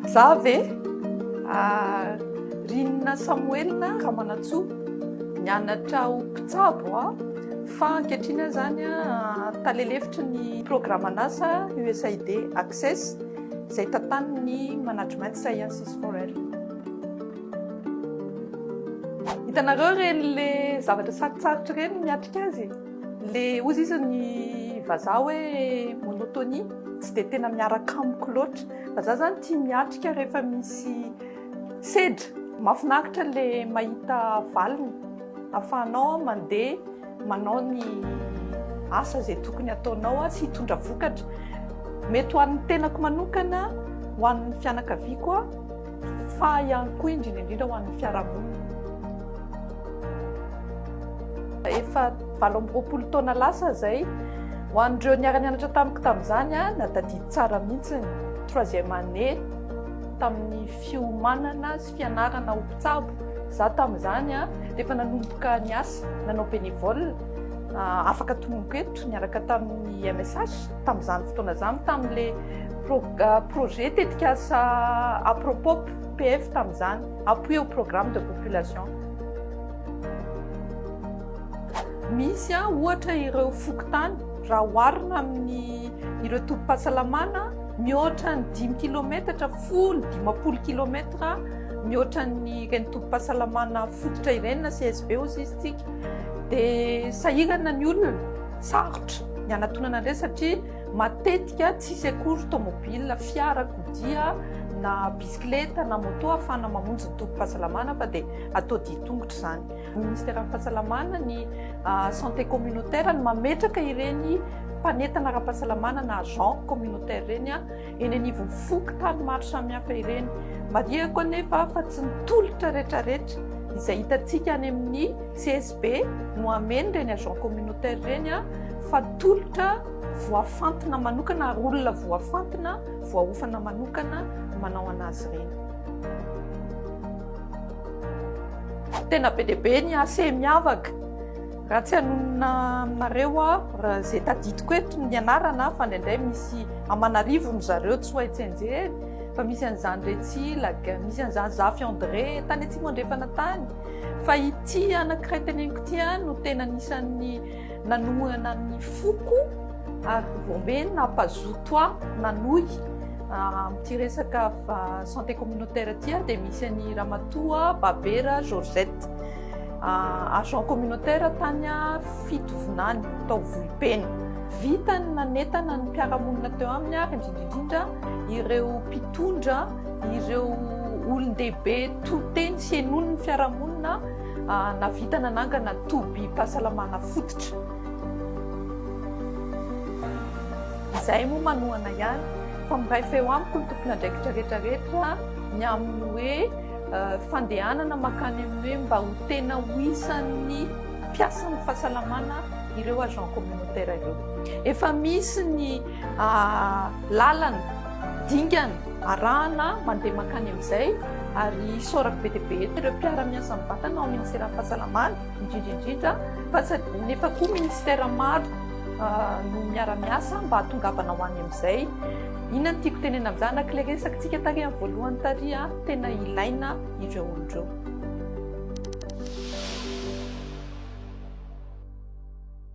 Za ve? Rinina Samoelina Ramanantsoa, nianatra ho mpitsabo aho fa ankehitriny aho izany tale lefitry ny programan'asa USAID Access izay tantanin'ny Management Sciences for Health. Hitanareo ireny le zavatra sarotsarotra ireny miatrika azy e! Le ozy izy ny vazaha hoe monotonie tsy dia tena miaraka amiko loatra fa za zany tia miatrika rehefa misy sedra mafinaritra le mahita valiny afahanao mandeha manao ny asa zay tokony ataonao sy hitondra vokatra mety ho an'ny tenako manokana ho an'ny fianakaviako fa ihany koa indrindra indrindra ho an'ny fiarahamonina. Efa valo amby roapolo taona lasa izay, ho an'ireo niara-nianatra tamiko tamin'izany, na tadidy tsara mihitsy ny troisième année tamin'ny fiomanana sy fianarana ho mpitsabo. Za tamin'izany rehefa nanomboka niasa nanao bénévole, afaka tononiko eto, niaraka tamin'ny MSH. Tamin'izany fotoana izany, tamin'ilay projet tetikasa Apropop, PF tamin'izany, Appui au programme de population. Misy ohatra ireo fokontany, raha oharina amin'ireo tobim-pahasalamana, mihoatra ny dimy kilometatra, folo, dimampolo kilometatra mihoatra an'ireny tobim-pahasalamana fototra ireny na CSB hoy isika, dia sahirana ny olona. Sarotra ny hanatonana an'ireny satria matetika tsy hisy akory tomobil, fiarakodia na bisikileta na moto ahafahana mamonjy ny tobim-pahasalamana fa dia atao dia tongotra izany. Ministeran'ny Fahasalamana, ny Santé Communautaire no mametraka ireny mpanentana ara-pahasalamana na agents communautaires ireny eny anivon'ny fokontany maro samihafa ireny. Marihiko anefa fa tsy ny tolotra rehetrarehetra izay hitantsika any amin'ny CSP. be no hameno ireny agent communautaire ireny fa tolotra voafantina manokana ary olona voafantina voahofana manokana manao anazy ireny. tena be dia be ny ase miavaka raha tsy hanonona aminareo aho raha izay tadidiko eto ny anarana fa indraindray misy amanarivony zareo tsy ho hay tsenjery fa misy an'izany retsy laga misy an'izany zafy andre tany atsimo andrefana tany Fa ity anankiray teneniko ity ihany no tena anisan'ny nanohana ny foko ary voambe nampazoto ahy nanohy ah, amin'ity resaka santé communautaire ity ah, dia misy an'i Ramatoa Babera Georgette ah, agent communautaire tany Fitovinany tao Vohipeno. Vitany nanetana ny mpiara-monina teo aminy ary indrindra indrindra ireo mpitondra Ireo olon-dehibe to-teny sy henoin'ny fiarahamonina nahavita nanangana tobim-pahasalamana fototra. Izahay moa manohana ihany fa miray feo amiko ny tompon'andraikitra rehetrarehetra ny amin'ny hoe fandehanana mankany amin'ny hoe mba ho tena ho isan'ny mpiasan'ny fahasalamana ireo agents communautaires ireo. Efa misy ny lalana, dingana, arahana mandeha mankany amin'izay ary isaorako be dia be eto ireo mpiara-miasa mivantana ao ministeran'ny fahasalamana indrindra indrindra fa tsy adino nefa koa ministera maro no miara-miasa mba hatongavana ho any amin'izay inona ny tiako tenena amin'izany raha kle resaka tsika tary amin'ny voalohany tary a tena ilaina ireo olon'ireo